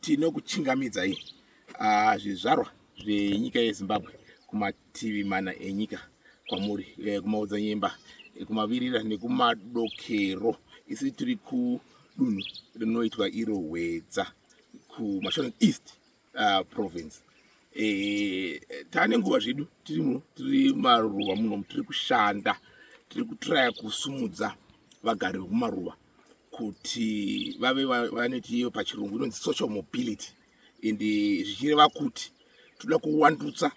tinokuchingamidzai tino ah, zvizvarwa zvenyika yezimbabwe kumativi mana enyika kwamuri eh, kumaodzanyemba eh, kumavirira nekumadokero isi tiri kudunhu rinoitwa iro hwedza kumashonen east uh, province e, tane nguva zvedu tiri muno tiri maruva muno tiri kushanda tiri kutraya kusumudza vagari vekumaruva kuti vave vanoti iyo pachirungu inonzi social mobility and zvichireva kuti toda kuwandutsa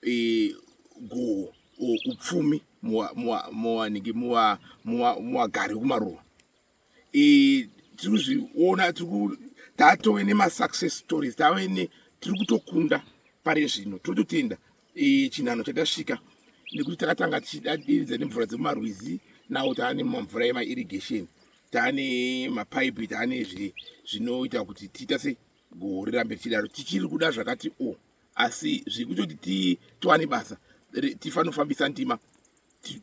e, goho upfumi muwanike muwagari wekumaruva tiri kuzviona tiri tatove nemasuccess stories tave ne tiri kutokunda pari zvino tiri kutotenda e, chinhano chatasvika nekuti takatanga tichidadiridza nemvura dzemumarwizi nawo taa nemamvura emairrigation taa nemapaipi taa nezve zvinoita kuti tiita se goho rirambe richidaro tichiri kuda zvakati o oh, asi zvekutoti titowane basa tifanofambisa ndima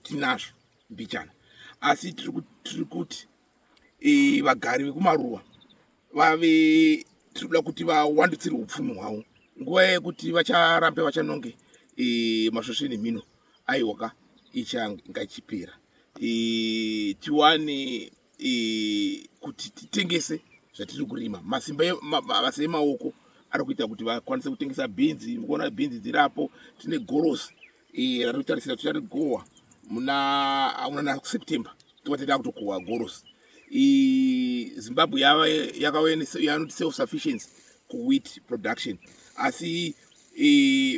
tinazvo mbichana asi tiri kuti e, vagari vekumaruwa vave tiri kuda kuti vawandutsire upfumi hwavo nguva yekuti vacharambe vachanonge e, masvosve nemhino aiwaka ichanga ichipera e, tiwane e, kuti titengese zvatiri kurima masimba mabasa emaoko ari kuita kuti vakwanise kutengesa bhinzi mukuona bhinzi dzirapo tine gorosi Iye anotarisira kuti anogohwa muna auna na September tova tata kutokohwa goros Zimbabwe yava yakanoti self sufficiency kuwheat production asi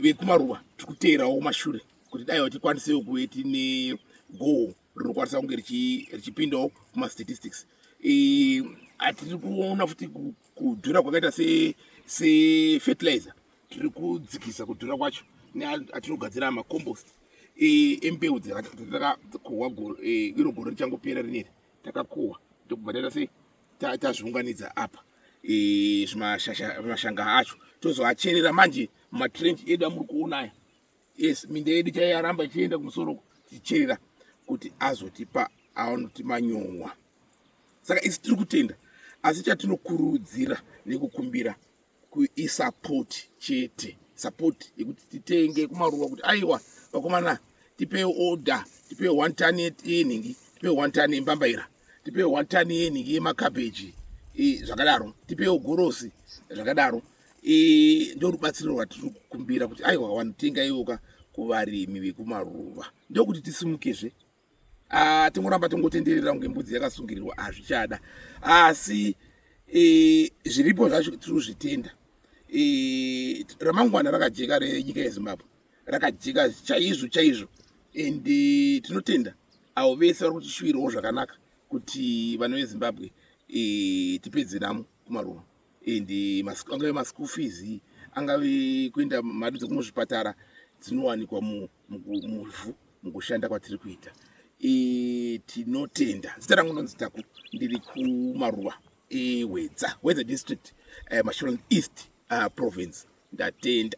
vekumaruva tiri kuteerawo mashure kuti dai tikwanisewo kuve tine goho rinokwanisa kunge richipindawo kumastatistics atiri kuona futi kudhura kwakaita sefertilizer tiri kudzikisa kudhura kwacho neatinogadzira macompost e, embeu dzatakakohwa e, iro gore richangopera rineri takakohwa ndokubva taita sei tazviunganidza apa e, zvimashanga acho tozoacherera manje mumatrench edu amuri kuona aya yes minda yedu chaiyaramba ichienda kumusoro tichicherera kuti azotipa aonoti manyowa saka isi tiri kutenda asi chatinokurudzira nekukumbira isapoti chete sapoti yekuti titenge kumaruwa kuti aiwa vakomana tipee order tipee one ton yenhingi tipee one ton yembambaira tipee one ton yenhingi yemakabheji zvakadaro tipewo gorosi zvakadaro ndorubatsiro rwatiri kukumbira kuti aiwa wanotenga iwoka kuvarimi vekumaruva ndokuti tisimukezve Ah, tingoramba tongotenderera kunge mbudzi yakasungirirwa hazvichada asi eh, zviripo zvacho tiri kuzvitenda eh, ramangwana rakajeka renyika yezimbabwe rakajeka chaizvo chaizvo and eh, tinotenda avo vese vari kutishuwirawo zvakanaka kuti vana vezimbabwe tipedze namo kumaruva and angave maschool fees angave kuenda mari dzekumuzvipatara dzinowanikwa mu muvhu mukushanda kwatiri kuita e, tinotenda zita rangu ndonzi taku ndiri kumaruwa ewedza wedza district uh, eh, masholand east uh, province ndatenda